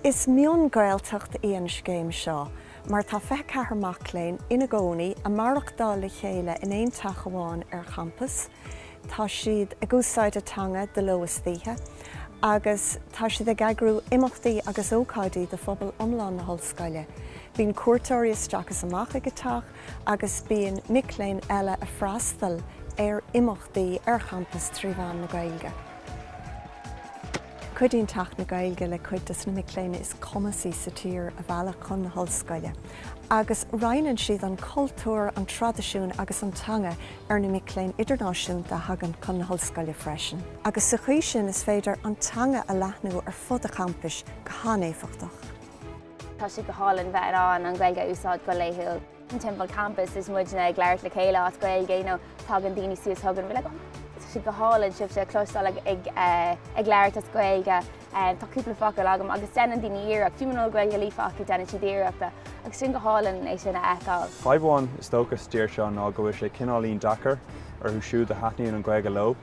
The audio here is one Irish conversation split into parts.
Is mion-Gaeltacht í an scéim seo mar tá fiche ceathair mac léinn ina gcónaí, a maireachtáil le chéile in aon teach amháin ar champas. Tá siad ag úsáid a teanga de ló is d'oíche agus tá siad ag eagrú imeachtaí agus ócáidí do phobal iomlán na hollscoile. Bíonn cuairteoirí isteach is amach ag a teach agus bíonn mic léinn eile a freastal ar imeachtaí ar champas trí mheán na Gaeilge. Cuidíonn Teach na Gaeilge le cuid dos na mic léinn is cumasaí sa tír a mhealladh chun na hollscoile agus roinneann siad an cultúr, an traidisiún agus an teanga ar na mic léinn idirnáisiúnta a thagann chun na hOllscoile freisin, agus sa chaoi sin is féidir an teanga a leathnú ar fud a champais go han-éifeachtach. Tá sé go hálainn bheith in ann an Ghaeilge a úsáid go laethúil timpeall campais is muidne ag labhairt le chéile as Gaeilge nó tagann daoine suas chugainn, bhfuil a gcomhairle, tá sé go hálainn sibhse a chloisteáil ag labhairt as Gaeilge. Tá cúpla focal agam agus deineann daoine iarracht, fiú muna bhfuil Gaeilge líofa acu deineann siad iarracht agus sin go hálainn é sin a fheiceáil. Fadhb amháin is dócha sa dtír seo ná go bhfuil sé cineáilín deacair orthu siúd a thaitníonn an Ghaeilge leo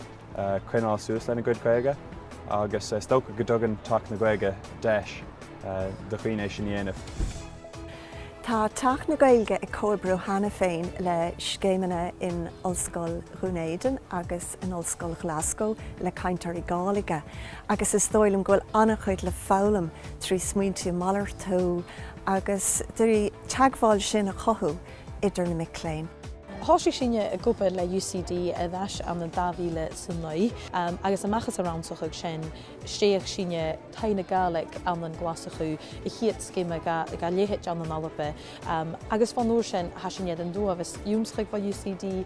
coinneáil suas lena gcuid Gaeilge agus is dócha go dtugann Teach na Gaeilge deis do dhaoine é sin a dhéanamh. Tá Teach na Gaeilge ag comhoibriú cheana féin le scéimeanna in Ollscoil Dhún Éideann agus in Ollscoil Ghlaschú le cainteoirí Gàidhlige agus is dóigh liom go bhfuil an-chuid le foghlaim trí smaointe a mhalartú agus trí teagmháil sin a chothú idir na mic léinn. Thòisich sinne ag obair le UCD air ais ann an 2009 agus a-mach às an rannsachadh sin, stèidhich sinne Taigh na Gàidhlig ann an Glaschu, a' chiad sgeama dha leithid ann an Alba agus bhon uair sin, tha sinn air an t-uabhas ionnsachadh bho UCD.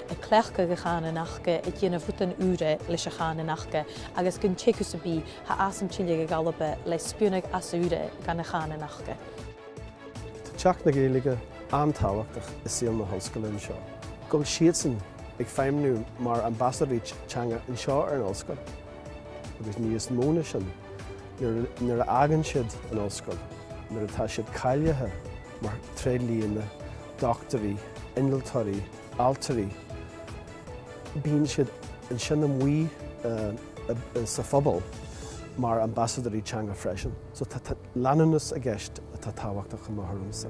a' cleachdadh a' chànan aca a' dèanamh rudan ùra leis a' chànan aca agus gun teagamh sam bith tha iadsan a' tilleadh a dh'Alba le spionnadh às ùr dhan a' chànan aca. Tá Teach na Gaeilge an-tábhachtach i saol na hOllscoile anseo. Go bhfuil siadsan ag feidhmniú mar ambasadóirí teanga anseo ar an Ollscoil agus níos mó ná sin nuair a fhágann siad an Ollscoil nuair atá siad cáilithe mar tréidlianna, dochtúirí, innealtóirí, ailtirí, bíonn siad ansin amuigh sa phobal mar ambasadóirí teanga freisin. So tá leanúnachas i gceist atá tábhachtach chomh maith, dar liomsa.